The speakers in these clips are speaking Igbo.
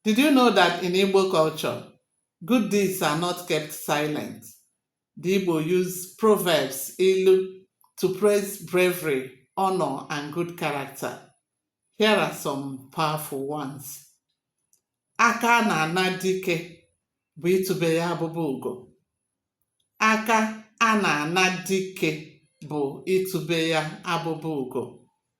Did you know that in Igbo culture, good deeds are not kept silent? The Igbo use proverbs, ilu, to praise bravery, honor, and good character. Here are some powerful ones. Aka a na-ana dike bụ itube ya abụba ugo. Aka a na-ana dike bụ itube ya abụba ugo.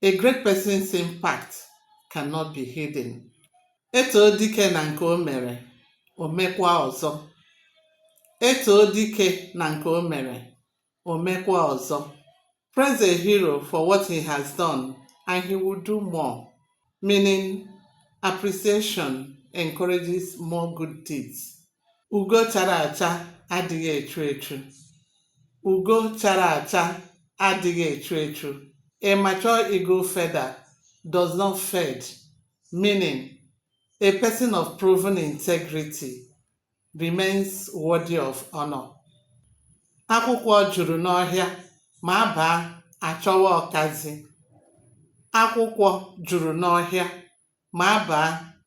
A great person's impact cannot be hidden. E too dike na nke o mere, o mekwa ọzọ. E too dike na nke o mere, o mekwa ọzọ. Praise a hero for what he has done and he will do more. Meaning, appreciation encourages more good deeds. Ugo chara acha adịghị echu echu. Ugo chara acha adịghị echu echu. A mature eagle feather does not fade, meaning a person of proven integrity remains worthy of honor. Akwụkwọ juru n'ọhịa ma a baa a chọwa ọkazị. Akwụkwọ juru n'ọhịa ma a baa